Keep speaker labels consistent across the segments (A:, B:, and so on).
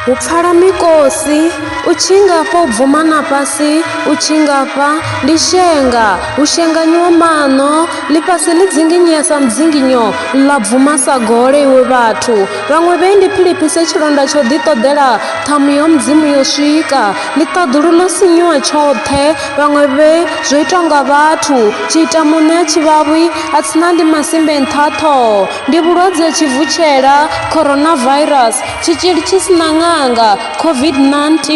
A: U pfala mikosi u tshi ngafha u bvuma na fhasi u tshi ngafha ndi shenga u shenganyiwa maṋo ḽifhasi ḽi dzinginyesa mudzinginyo ḽa bvuma sa gole iwe vhathu vhaṅwe vhe ndi philiphise tshilonda tsho ḓi ṱoḓela ṱhamu ya mudzimu yo swika Ni ṱaḓulu ḽo sinyuwa tshoṱhe vhaṅwe vhe zwo itwa nga vhathu tshi ita muṋe a tshi vhavhi a tsina ndi masimbe nṱha ha ṱhoho ndi vhulwadze ha tshivutshela coronavirus tshitzhili tshi si na ṅanga covid-19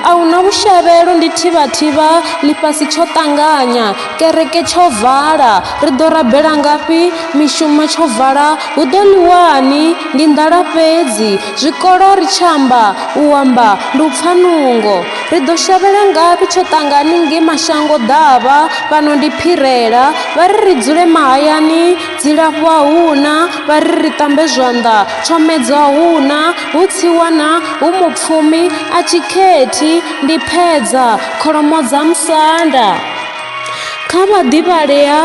A: a hu na vhushavhelo ndi thivhathivha ḽifhasi tsho ṱanganya kereke tsho vala ri ḓo rabela ngafhi mishumo tsho vala hu ḓo ḽiwani ndi nḓala fhedzi Zwikolo ri tshi amba, u amba ndi u pfa nungo. Ri ḓo shavhela ngafhi tsho ṱangani ngei mashango ḓavha, fhano ndi phirela. Vha ri ri dzule mahayani, dzilafho a hu na, vha ri ri ṱambe zwanḓa, tshomedzo a hu na, hu tsiwana, hu mupfumi, a tshi khethi, ndi phedza, kholomo dza musanda. Kha vhaḓivhalea,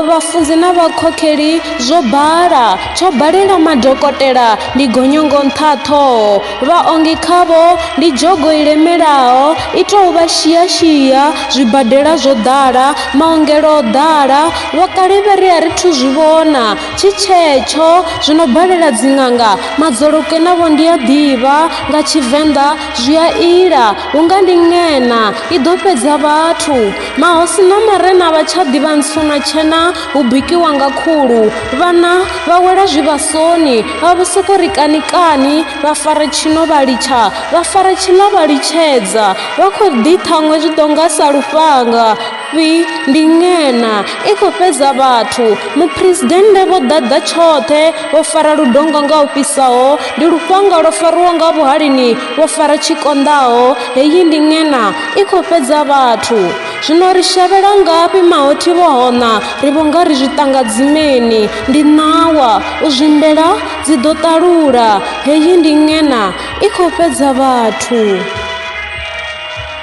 A: vhafunzi na vhakhokheli zwo bala, tsho balela madokotela ndi gonyongo nṱha ṱhoho, vhaongi khavho ndi dzhogo i lemelaho i tou vha shia-shia, zwibadela zwo ḓala, maongelo o ḓala, vhokale vhe ri a ri thu zwi vhona, tshi tshetsho, zwi no balela dziṅanga, madzolokwe navho ndi a ḓivha, nga Tshivenḓa, Zwi a ila, hu nga ndi ng'ena, i ḓo fhedza vhathu. Mahosi na marena a vha tsha ḓivha ntswuna tshena, hu bikiwa nga khulu. Vhana vha wela zwivhasoni, vha vho sokou ri kani kani, vha fara tshino vha litsha, vha fara tshiḽa vha litshedza. Vha khou ḓi ṱhaṅwe zwi ḓo nga sa lufhanga. Fhi ndi ngena i khou fhedza vhathu. Muphuresidennde vho ḓadza tshoṱhe, vho fara ludonga nga u fhisaho, ndi lufhanga lwo fariwaho nga vhuhalini, vho fara tshi konḓaho. Heyi ndi ngena i khou fhedza vhathu. Zwino ri shavhela ngafhi mahothi vho hoṋa, ri vho nga ri zwi ṱanga dzimeni. Ndi ṋawa, u zwimbela dzi ḓo ṱalula. Heyi ndi ngena i khou fhedza vhathu.